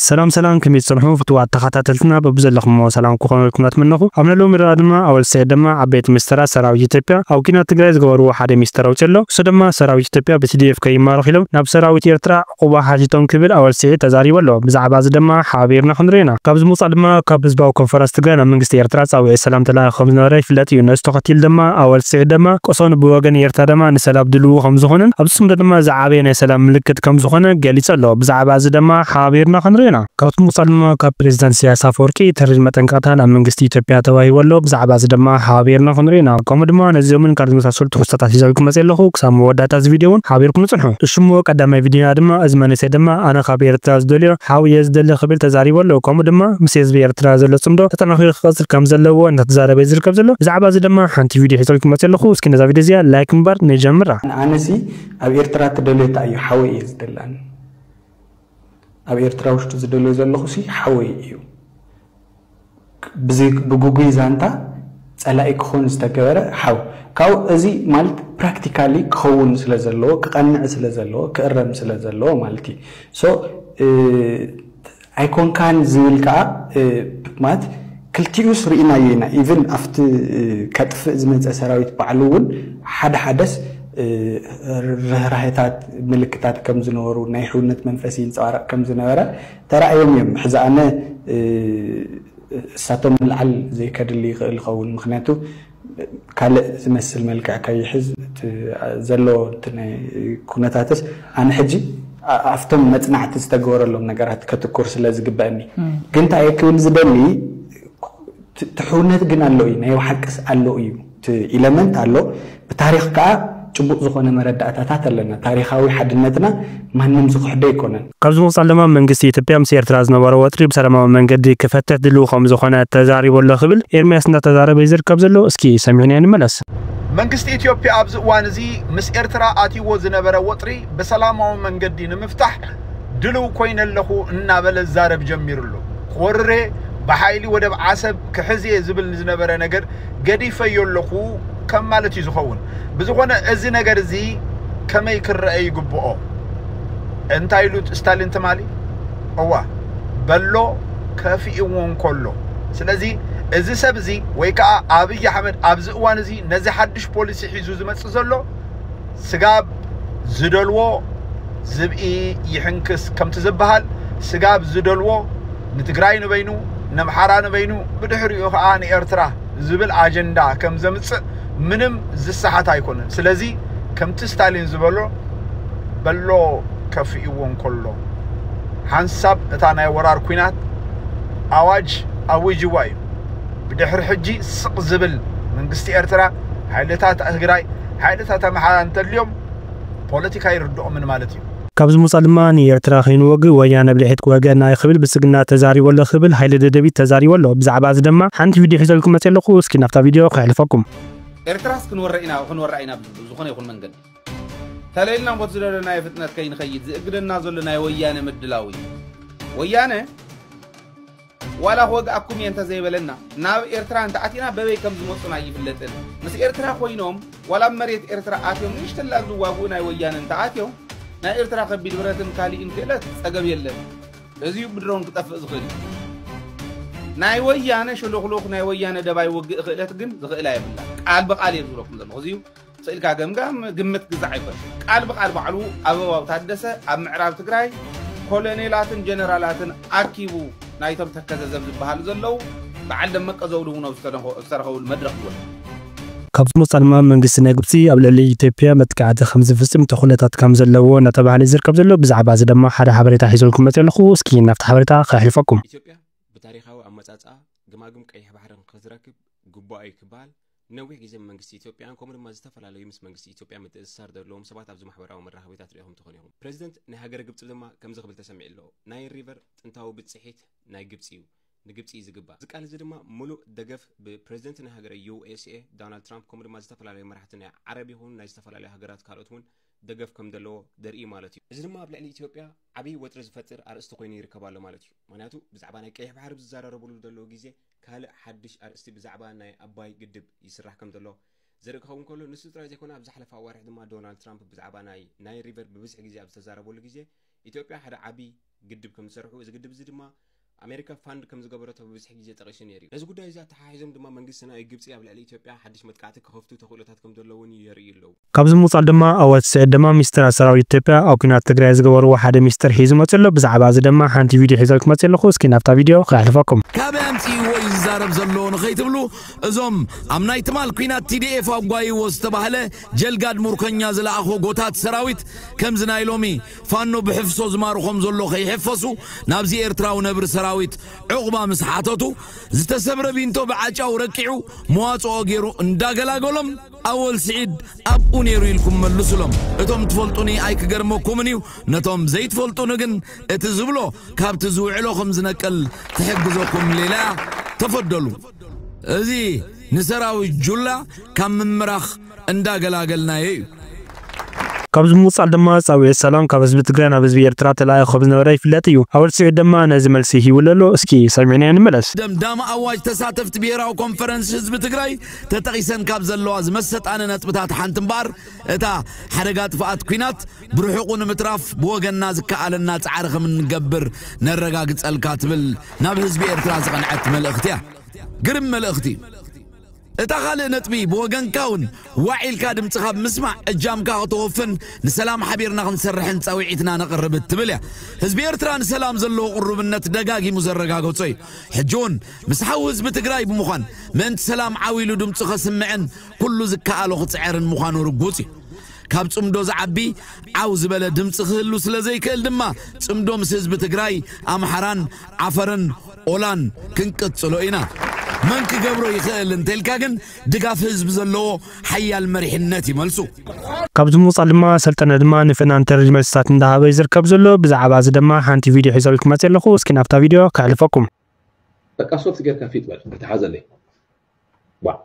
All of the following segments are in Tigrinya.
ሰላም ሰላም ከመይ ትጸንሑ ፍትዋት ተኻታተልትና በብዘለኹሞ ሰላም ክኾነልኩም ናትመነኹ ኣብ ነሎሚ ረኣ ድማ ኣወል ሰዒድ ደማ ዓበይቲ ሚስተራት ሰራዊት ኢትዮጵያ ኣብ ኩናት ትግራይ ዝገበርዎ ሓደ ሚስተር ኣውጺኡ ኣሎ እሱ ደማ ሰራዊት ኢትዮጵያ ብቲዲኤፍ ከይማረኹ ኢሎም ናብ ሰራዊት ኤርትራ ዕቁባ ሓቲቶም ክብል ኣወል ስዒድ ተዛሪቡ ኣሎ ብዛዕባ እዚ ደማ ሓባቢርና ክንሪኦ ኢና ካብዚ ምውጻእ ድማ ካብ ህዝባዊ ኮንፈረንስ ትግራይ ናብ መንግስቲ ኤርትራ ጻዊዒት ሰላም ተላኢኹ ከምዝነበረ ይፍለጥ እዩ ነዚ ተኸቲሉ ደማ ኣወል ስዒድ ደማ ቆሶኑ ብወገን ኤርትራ ደማ ንሰላም ድልዉ ከምዝኾነን ኣብዚ ጽምዶ ደማ ዓቢ ናይ ሰላም ምልክት ከም ዝኾነ ገሊጹ ኣሎ። ብዛዕባ እዚ ደማ ሓባቢርና ክንሪኦ ኢና። ካብቲ ምቕድሞ ካብ ፕሬዚዳንት ኢሳያስ ኣፈወርቂ ተሪር መጠንቀቕታ ናብ መንግስቲ ኢትዮጵያ ተዋሂቡ ኣሎ። ብዛዕባ እዚ ደማ ሓባቢርና ክንሪኦ ኢና። ከምኡ ድማ ነዚኦምን ካልእ ዝመሳሰሉ ትሕዝቶታት ሒዘልኩም መጺኤ ኣለኹ። ክሳብ መወዳእታ እዚ ቪድዮ ውን ሓቢርኩምኒ ጽንሑ። እሺ'ሞ ቀዳማይ ቪድዮና ድማ እዚ መንእሰይ ደማ ኣነ ካብ ኤርትራ ዝደልዮ ሓው እየ ዝደሊ ክብል ተዛሪቡ ኣሎ። ከምኡ ድማ ምስ ህዝቢ ኤርትራ ዘሎ ጽምዶ ተጠናኺሩ ክቕጽል ከም ዘለዎ እንዳተዛረበ እዩ ዝርከብ ዘሎ። ብዛዕባ እዚ ደማ ሓንቲ ቪድዮ ሒዘልኩም መጺኤ ኣለኹ። እስኪ ነዛ ቪድዮ እዚኣ ላይክ ብምግባር ንጀምራ። ኣነሲ ኣብ ኤርትራ ትደልዮ ታይ እዩ ሓወይ እየ ዝደሊ ኣነ ኣብ ኤርትራ ውሽጢ ዝደልዮ ዘለኹ ሲ ሓወይ እዩ ብዚ ብጉጉይ ዛንታ ጸላኢ ክኾን ዝተገበረ ሓው ካብኡ እዚ ማለት ፕራክቲካሊ ክኸውን ስለ ዘለዎ ክቐንዕ ስለ ዘለዎ ክእረም ስለ ዘለዎ ማለት እዩ ሶ ኣይኮንካን ዝብል ከኣ ማለት ክልቲኡስ ርኢናዮ ኢና ኢቭን ኣብቲ ከጥፍእ ዝመጸ ሰራዊት ባዕሉ ውን ሓደ ሓደስ ርህራሄታት ምልክታት ከም ዝነበሩ ናይ ሕውነት መንፈስ ይንጸባረቕ ከም ዝነበረ ተራእዮም እዮም ሕዚ ኣነ እሳቶም ምልዓል ዘይከድሊ ይኽእል ይኸውን ምኽንያቱ ካልእ ዝመስል መልክዕ ከይሕዝ እቲ ዘሎ ኩነታትስ ኣነ ሕጂ ኣብቶም መጽናዕቲ ዝተገበረሎም ነገራት ከትኩር ስለ ዝግበእኒ ግን እንታይ እየ ክብል ዝደሊ ትሕውነት ግን ኣሎ እዩ ናይ ሓቅስ ኣሎ እዩ እቲ ኢለመንት ኣሎ ብታሪኽ ከዓ ጭቡጥ ዝኾነ መረዳእታታት ኣለና። ታሪኻዊ ሓድነትና ማንም ዝኽሕዶ ኣይኮነን። ካብዚ ብምቕፃል ድማ መንግስቲ ኢትዮጵያ ምስ ኤርትራ ዝነበሮ ወጥሪ ብሰላማዊ መንገዲ ክፈትሕ ድልዊ ከምዝኾነ ተዛሪቡ ኣሎ ክብል ኤርሚያስ እንዳተዛረበ እዩ ዝርከብ ዘሎ። እስኪ ሰሚዕናዮ ንመለስ። መንግስቲ ኢትዮጵያ ኣብዚ እዋን እዚ ምስ ኤርትራ ኣትይዎ ዝነበረ ወጥሪ ብሰላማዊ መንገዲ ንምፍታሕ ድልው ኮይነ ኣለኹ እናበለ ዝዛረብ ጀሚሩ ኣሎ። ክወርር'የ፣ ብሓይሊ ወደብ ዓሰብ ክሕዝ'የ ዝብል ንዝነበረ ነገር ገዲፈዮ ኣለኹ ከም ማለት እዩ ዝኸውን። ብዝኾነ እዚ ነገር እዚ ከመይ ክረአ ይግብኦ? እንታይ ኢሉ ስታሊን ትማሊ? እዋ በሎ ከፊእዎ እንከሎ። ስለዚ እዚ ሰብ እዚ ወይ ከዓ ኣብይ ኣሕመድ ኣብዚ እዋን እዚ ነዚ ሓድሽ ፖሊሲ ሒዙ ዝመፅእ ዘሎ ስጋብ ዝደልዎ ዝብኢ ይሕንክስ ከምቲ ዝበሃል ስጋብ ዝደልዎ ንትግራይ ንበይኑ ነምሓራ ንበይኑ ብድሕሪኡ ከዓ ንኤርትራ ዝብል ኣጀንዳ ከም ዘምፅእ ምንም ዝሰሓት ኣይኮነን ስለዚ ከምቲ ስታሊን ዝበሎ በሎ ከፍእዎ እንከሎ ሓንሳብ እታ ናይ ወራር ኩናት ኣዋጅ ኣዊጅዋ እዩ ብድሕሪ ሕጂ ስቕ ዝብል መንግስቲ ኤርትራ ሓይልታት ትግራይ ሓይልታት ኣምሓራ እንተድልዮም ፖለቲካ ይርድኦምን ማለት ካብዚ ምውጻእ ድማ ንኤርትራ ከይንወግእ ወያነ ብልሒት ክወግኣና እዩ ክብል ብልጽግና ተዛሪቡ ኣሎ ክብል ሃይለ ደደቢት ተዛሪቡ ኣሎ ብዛዕባ እዚ ድማ ሓንቲ ቪድዮ ሒዘልኩም መጽየ ኣለኹ እስኪ ናብታ ቪድዮ ከሕልፈኩም። ኤርትራስ ክንወራ ኢና ክንወራ ኢና ብዝኾነ ይኹን መንገዲ ተለይልና እምቦቲ ዝደለናዮ ፍጥነት ከይንኸይድ ዝእግደና ዘሎ ናይ ወያነ ምድላው እዩ ወያነ ዋላ ክወግኣኩም እየ እንተዘይበለና ናብ ኤርትራ እንተኣቲና በበይ ከም ዝመፁን ኣይፍለጥን ምስ ኤርትራ ኮይኖም ዋላ ኣብ መሬት ኤርትራ ኣትዮም ንእሽተላ ዝዋግኡ ናይ ወያነ እንተኣትዮም ናይ ኤርትራ ከቢድ ብረትን ካሊእን ክእለት ፀገብ የለን እዚዩ ብድሮን ክጠፍእ ዝኽእል እዩ ናይ ወያነ ሸሎኽሎኽ ናይ ወያነ ደባይ ውግእ ክእለት ግን ዝኽእላ የብላ ቃል ብቃል እየ ዝብለኩም ዘለኹ እዚዩ ኽእልካ ገምጋም ግምት ግዛዕ ኣይኮነን። ቃል ብቃል ባዕሉ ኣበባው ታደሰ ኣብ ምዕራብ ትግራይ ኮለኔላትን ጀነራላትን ኣኪቡ ናይቶም ተከዘ ዘብ ዝበሃሉ ዘለው በዓል ደመቀ ዘውዱ እውን ኣብ ዝተረኸብሉ መድረኽ ይወል። ካብዚ ወፃኢ ድማ መንግስቲ ናይ ግብፂ ኣብ ልዕሊ ኢትዮጵያ መጥቃዕቲ ከምዝፍፅም ተኹለታት ከምዘለዎ እናተብሃለ እዩ ዝርከብ ዘሎ። ብዛዕባ እዚ ድማ ሓደ ሓበሬታ ሒዘልኩም መፂኦ ኣለኹ። እስኪ ናብቲ ሓበሬታ ከሕልፈኩም። ኢትዮጵያ ብታሪኻዊ ኣመፃፅኣ ግማግም ቀይሕ ባሕሪ ንክትረክብ ግቡኣ እዩ ክበሃል ንነዊሕ ግዜ መንግስቲ ኢትዮጵያን ከምኡ ድማ ዝተፈላለዩ ምስ መንግስቲ ኢትዮጵያ ምትእስሳር ዘለዎም ሰባት ኣብዚ ማሕበራዊ መራኸቢታት ርኢኹም ትኾኑ ኢኹም። ፕረዚደንት ናይ ሃገረ ግብጺ ድማ ከምዚ ክብል ተሰሚዑ ኣሎ፣ ናይል ሪቨር ጥንታዊ ብጽሒት ናይ ግብጺ እዩ። ንግብጺ እዩ ዝግባእ። እዚ ቃል እዚ ድማ ምሉእ ደገፍ ብፕረዚደንት ናይ ሃገረ ዩኤስኤ ዶናልድ ትራምፕ ከምኡ ድማ ዝተፈላለዩ መራሕቲ ናይ ዓረብ ይኹኑ ናይ ዝተፈላለዩ ሃገራት ካልኦት እውን ደገፍ ከም ዘለዎ ዘርኢ እዩ ማለት እዩ። እዚ ድማ ኣብ ልዕሊ ኢትዮጵያ ዓብይ ወጥሪ ዝፈጥር ኣርእስቲ ኮይኑ ይርከብ ኣሎ ማለት እዩ። ምኽንያቱ ብዛዕባ ናይ ቀይሕ ባሕሪ ኣብ ዝዘራረብሉ ዘለዉ ግዜ ካልእ ሓድሽ ኣርእስቲ ብዛዕባ ናይ ኣባይ ግድብ ይስራሕ ከም ዘሎ ዘርኢ ክኸውን ከሎ ንሱ ጥራይ ዘይኮነ ኣብ ዝሓለፈ ኣዋርሕ ድማ ዶናልድ ትራምፕ ብዛዕባ ናይ ናይል ሪቨር ብብዝሒ ግዜ ኣብ ዝተዛረበሉ ግዜ ኢትዮጵያ ሓደ ዓቢ ግድብ ከም ዝሰርሑ እዚ ግድብ እዚ ድማ ኣሜሪካ ፋንድ ከም ዝገበረቶ ብብዝሒ ግዜ ጠቒሱ ነይሩ እዩ። ነዚ ጉዳይ እዚ ኣተሓሒዞም ድማ መንግስቲ ናይ ግብጺ ኣብ ልዕሊ ኢትዮጵያ ሓድሽ መጥቃዕቲ ክኸፍቱ ተኽእሎታት ከም ዘለውን የርእዩ ኣለዉ። ካብዚ ብምቕጻል ድማ ኣወት ስዒድ ድማ ሚስጥራት ሰራዊት ኢትዮጵያ ኣብ ኲናት ትግራይ ዝገበርዎ ሓደ ሚስጥር ሒዙ መጺኡ ኣሎ። ብዛዕባ እዚ ድማ ሓንቲ ቪድዮ ሒዘልኩም መጺኤ ኣለኹ። እስኪ ናብታ ቪድዮ ከሕልፈኩም። ካበይ ኣምጺእዎ እዩ ዝዛረብ ዘሎ ንኸይትብሉ እዞም ኣብ ናይ ትማል ኲናት TDF ኣጓይዎ ዝተባህለ ጀልጋድ ሙርከኛ ዝለኣኾ ጎታት ሰራዊት ከምዚ ናይ ሎሚ ፋኖ ብሕፍሶ ዝማርኾም ዘሎ ከይሕፈሱ ናብዚ ኤርትራዊ ነብሪ ሰራዊት ዑቕባ ምስ ሓተቱ ዝተሰብረ ቢንቶ ብዓጫው ረቂዑ መዋጽኦ ጌሩ እንዳገላገሎም ኣወል ስዒድ ኣብኡ ነይሩ ኢልኩም መልሱሎም። እቶም ትፈልጡኒ ኣይክገርመኩምን እዩ፣ ነቶም ዘይትፈልጡኒ ግን እቲ ዝብሎ ካብቲ ዝውዕሎ ከም ዝነቅል ትሕግዘኩም ሌላያ ተፈደሉ። እዚ ንሰራዊት ጁላ ካብ ምምራኽ እንዳገላገልናዮ እዩ። ካብዚ ብምቕጻል ድማ ጻውዒት ሰላም ካብ ህዝቢ ትግራይ ናብ ህዝቢ ኤርትራ ተላኢኹ ከም ዝነበረ ይፍለጥ እዩ። ኣወል ስዒድ ድማ ነዚ መልሲ ሂቡሉ ኣሎ። እስኪ ሰሚዕናዮ ንመለስ። ደምዳሚ ኣዋጅ ተሳተፍቲ ብሄራዊ ኮንፈረንስ ህዝቢ ትግራይ ተጠቒሰን ካብ ዘለዋ ዝመሰጣኒ ነጥብታት ሓንቲ እምበኣር እታ ሓደጋ ጥፍኣት ኲናት ብርሑቑ ንምትራፍ ብወገንና ዝከኣለና ጻዕሪ ከም እንገብር ነረጋግጸልካ ትብል ናብ ህዝቢ ኤርትራ ዝቐንዐት መልእኽቲ እያ። ግርም መልእኽቲ እዩ። እታ ካልእ ነጥቢ ብወገንካ እውን ዋዕ ኢልካ ድምጽኻ ብምስማዕ እጃምካ ከተወፍን ንሰላም ሓቢርና ክንሰርሕን ጻውዒትና ነቕርብ እትብል እያ። ህዝቢ ኤርትራ ንሰላም ዘለዎ ቅሩብነት ደጋጊሙ ዘረጋገጾ እዩ። ሕጂ እውን ምስ ሓው ህዝቢ ትግራይ ብምዃን ምእንቲ ሰላም ዓው ኢሉ ድምፁ ከስምዕን ኩሉ ዝከኣሎ ክፅዐርን ምዃኑ ርጉፅ እዩ። ካብ ፅምዶ ዝዓቢ ዓው ዝበለ ድምፂ ክህሉ ስለዘይክእል ድማ ፅምዶ ምስ ህዝቢ ትግራይ፣ ኣምሓራን፣ ዓፈርን፣ ኦላን ክንቅፅሎ ኢና። መን ክገብሮ ይኽእል እንተልካ ግን ድጋፍ ህዝቢ ዘለዎ ሓያል መሪሕነት እዩ መልሱ። ካብዚ ብምቕፃል ድማ ሰልጠነ ድማ ንፍናንተርጅ መልስታት እንዳሃበ እዩ ዝርከብ ዘሎ። ብዛዕባ እዚ ደማ ሓንቲ ቪድዮ ሒዘልኩም መፅየ ኣለኹ። እስኪ ናብታ ቪድዮ ከሕልፈኩም። በቃ ሶፍት ጌርካ ፊጥ በል ክተሓዘለይ ባዕ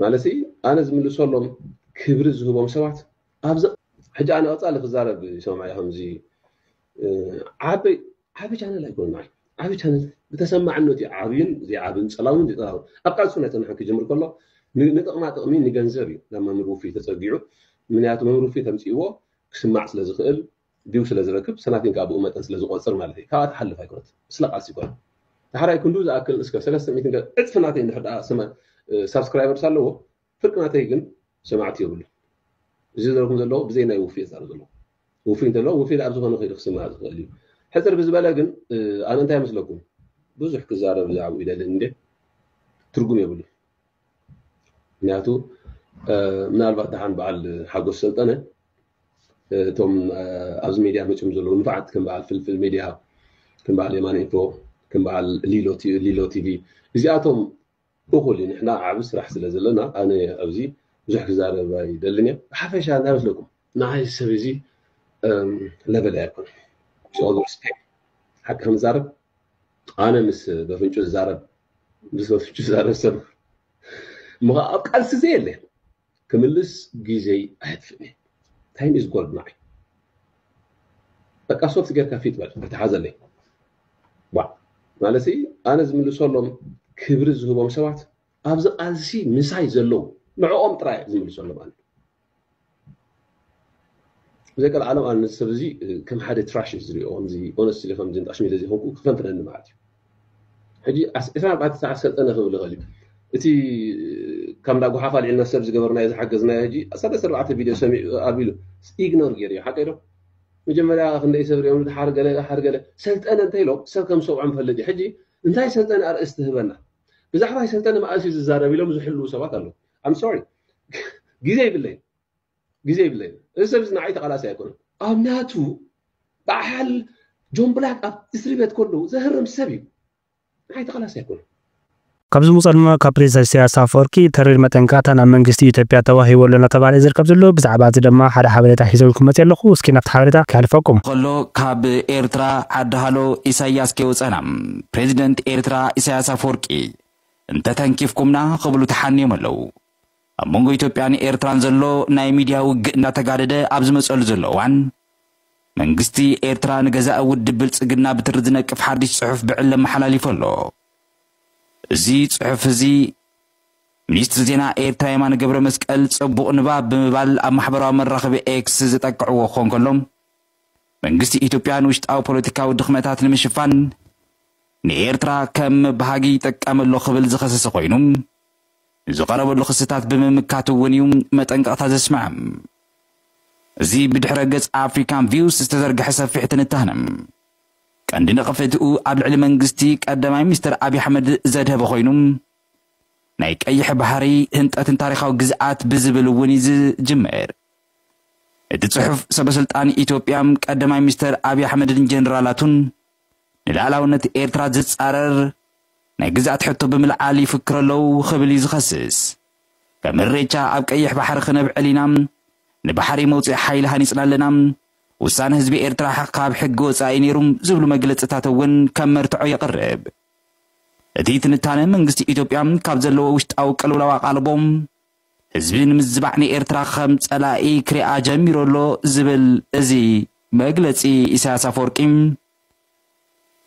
ማለሲ ኣነ ዝምልሰሎም ክብሪ ዝህቦም ሰባት ኣብዚ ሕጂ ኣነ ቀጻሊ ክዛረብ ይሰምዓያ ከምዚ ዓበይ ዓቢ ቻነል ኣይኮነ ንዓይ ዓቢ ቻነል ብተሰማዕነቱ እዩ ዓብዩን ዘይዓብን ጸላውን ዘይጸላውን ኣብ ቃልሱ ናይ ጽንሓን ክጅምር ከሎ ንጥቕማ ጥቕሚ ንገንዘብ እዩ ናብ መምህር ውፍይ ተጸጊዑ ምክንያቱ መምህር ውፍይ ተምጽእዎ ክስማዕ ስለ ዝኽእል ዲው ስለ ዝረክብ ሰናቲም ከኣ ብኡ መጠን ስለ ዝቆጽር ማለት እዩ ካብኣ ትሓልፍ ኣይኮነት ስለ ቃልሲ ይኮነ ዳሕራይ ክንዱ ዝኣክል እስከ ሰለስተ ሚእቲ ዕጽፊ ናተይ እንድሕር ደኣ ስመ ሳብስክራይበርስ ኣለዎ ፍርቂ ናተይ ግን ሰማዕቲ የብሉ እዚ ዘረኩም ዘለዎ ብዘይ ናይ ውፍይ ዛር ዘለዎ ውፍይ እንተሎ ውፍይ ኣብ ዝኾነ ከይዱ ክስማዕ ዝኽእል እዩ ሕፅር ብዝበለ ግን ኣነ እንታይ መስለኩም ብዙሕ ክዛረብ ብዛዕባኡ ይደልን እንዴ ትርጉም የብሉ ምክንያቱ ምናልባት ደሓን በዓል ሓጎስ ሰልጠነ እቶም ኣብዚ ሚድያ መፅም ዘለዉ ንፋዓት ከም በዓል ፍልፍል ሚድያ ከም በዓል የማነ ኢንፎ ከም በዓል ሊሎ ቲቪ እዚኣቶም እኹል እዩ ንሕና ዓብ ስራሕ ስለ ዘለና ኣነ ኣብዚ ብዙሕ ክዛረብ ኣይደልን እየ ብሓፈሻ እንታይ መስለኩም ንዓይ ሰብ እዚ ለበለ ኣይኮነ ሓቂ ክንዛረብ ኣነ ምስ በፍንጩ ዝዛረብ ብሰፊሑ ዝዛረብ ሰብ እሞ ከዓ ኣብ ቃልሲ ዘየለ ክምልስ ግዜይ ኣየጥፍእን እየ ታይም ኢዝ ጎልድ ንዓይ በቃ ሶፍት ጌርካ ፊት በል ተተሓዘለይ ዋ ማለት ኣነ ዝምልሰሎም ክብሪ ዝህቦም ሰባት ኣብዚ ቃልሲ ምሳይ ዘለዉ ንዕኦም ጥራይ ዝምልሰሎም ኣነ ዘቀልዓሎም ኣነ ነዚ ሰብ እዚ ከም ሓደ ትራሽ እዩ ዝሪኦ ከምዚ ኦነስትሊ ከምዚ ንጣሽ ሚለ ዘይኮንኩ ክፈንፍነኒ ማለት እዩ ሕጂ ዕስራ ኣርባዕተ ሰዓት ሰልጠነ ክብል ይኽእል እዩ እቲ ካብ እንዳ ጉሓፍ ኣልዒልና ሰብ ዝገበርናዮ ዝሓገዝናዮ ሕጂ ሰለስተ ኣርባዕተ ቪድዮ ሰሚዑ ኣቢሉ ኢግኖር ገይሩ እዩ ሓቀዶ መጀመርያ ክንደይ ሰብ ሪኦም ድሓር ገለ ድሓር ገለ ሰልጠነ እንተኢሎም ሰብ ከም ሰብዖ ንፈልጥ እዩ ሕጂ እንታይ ሰልጠነ ኣርእስቲ ህበና ብዛዕባ ሰልጠነ መኣስ እዩ ዝዛረብ ኢሎም ዝሕልው ሰባት ኣለዉ I'm sorry ግዜ ይብለይ ግዜ ይብለይ እዚ ሰብ እዚ ንዓይ ተቓላሲ ኣይኮነን ኣብ ናቱ በዓል ጆን ብላክ ኣብ እስሪ ቤት ከለዉ ዘህርም ሰብ እዩ ንዓይ ተቓላሲ ኣይኮነን ካብዚ ምውፃ ድማ ካብ ፕሬዚዳንት ኢሳያስ ኣፈወርቂ ተሪር መጠንቀቕታ ናብ መንግስቲ ኢትዮጵያ ተዋሂቡ ኣሎ እናተባህለ እዩ ዝርከብ ዘሎ። ብዛዕባ እዚ ድማ ሓደ ሓበሬታ ሒዘልኩም መፂኤ ኣለኹ። እስኪ ናብቲ ሓበሬታ ከሕልፈኩም። ኸሎ ካብ ኤርትራ ዓዲ ሃሎ ኢሳይያስ ከይወጸና ፕሬዚደንት ኤርትራ ኢሳያስ ኣፈወርቂ እንተ ተንኪፍኩምና ክብሉ ተሓንዮም ኣለዉ። ኣብ መንጎ ኢትዮጵያን ኤርትራን ዘሎ ናይ ሚድያ ውግእ እንዳተጋደደ ኣብ ዝመጸሉ ዘሎ እዋን፣ መንግስቲ ኤርትራ ንገዛኢ ውድብ ብልጽግና ብትሪ ዝነቅፍ ሓድሽ ጽሑፍ ብዕሊ ኣመሓላሊፉ ኣሎ። እዚ ጽሑፍ እዚ ሚኒስትሪ ዜና ኤርትራ የማነ ገብረመስቀል ጽቡቕ ንባብ ብምባል ኣብ ማሕበራዊ መራኸቢ ኤክስ ዘጠቅዕዎ ክኾን ከሎ፣ መንግስቲ ኢትዮጵያ ንውሽጣዊ ፖለቲካዊ ድኽመታት ንምሽፋን ንኤርትራ ከም መባሃጊ ይጠቀም ኣሎ ክብል ዝኸሰሰ ኮይኑ ንዝቐረበሉ ክስታት ብምምካት እውን እዩ መጠንቀቕታ ዘስምዐ። እዚ ብድሕረ ገጽ ኣፍሪካን ቪውስ ዝተዘርግሐ ሰፊሕ ትንታነ ቀንዲ ነቐፌትኡ ኣብ ልዕሊ መንግስቲ ቀዳማይ ሚኒስትር ኣብዪ ኣሕመድ ዘድሀበ ኮይኑ ናይ ቀይሕ ባሕሪ ህንጠትን ታሪኻዊ ግዝኣት ብዝብል እውን እዩ ዝጅምር። እቲ ጽሑፍ ሰበስልጣን ኢትዮጵያ ቀዳማይ ሚኒስተር ኣብዪ ኣሕመድን ጀነራላቱን ንልኣላውነት ኤርትራ ዝጻረር ናይ ግዝኣት ሕቶ ብምልዓል ይፍክሩ ኣለዉ ክብል እዩ ዝኸስስ። ከም እሬቻ ኣብ ቀይሕ ባሕሪ ክነብዕል ኢና፣ ንባሕሪ መውጽኢ ሓይሊ ሃኒጽና ኣለና፣ ውሳነ ህዝቢ ኤርትራ ካብ ሕጊ ወጻኢ ነይሩ ዝብሉ መግለጽታት እውን ከም መርትዖ የቕርብ። እቲ ትንታነ መንግስቲ ኢትዮጵያ ካብ ዘለዎ ውሽጣዊ ቅልውላው ኣቓልቦ ህዝቢ ንምዝባዕ ንኤርትራ ከም ጸላኢ ክሪኣ ጀሚሩ ኣሎ ዝብል እዚ መግለጺ ኢሳያስ ኣፈወርቂ፣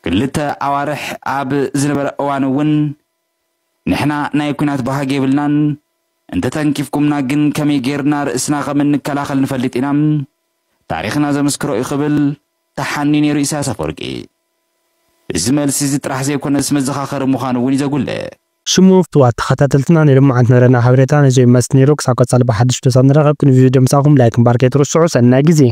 ክልተ ኣዋርሕ ኣብ ዝነበረ እዋን እውን ንሕና ናይ ኲናት ባህጊ የብልናን፣ እንተተንኪፍኩምና ግን ከመይ ገይርና ርእስና ከም እንከላኸል ንፈልጥ ኢና፣ ታሪኽና ዘመስክሮ እዩ ክብል ተሓንዩ ነይሩ ኢሳያስ ኣፈወርቂ። እዚ መልሲ እዚ ጥራሕ ዘይኮነስ መዘኻኸሪ ምዃኑ እውን እዩ ዘጉልሕ። ሽሙ ፍትዋት ተከታተልትና ናይ ሎማዓንቲ ንረና ሓበሬታ ነዞይ ይመስል ነይሩ ክሳብ ቀፃሊ ብሓዱሽ ዶሳት ንራከብ ክንዚ ቪድዮ ምሳኩም ላይክ እምባር ከይትርስዑ ሰናይ ግዜ።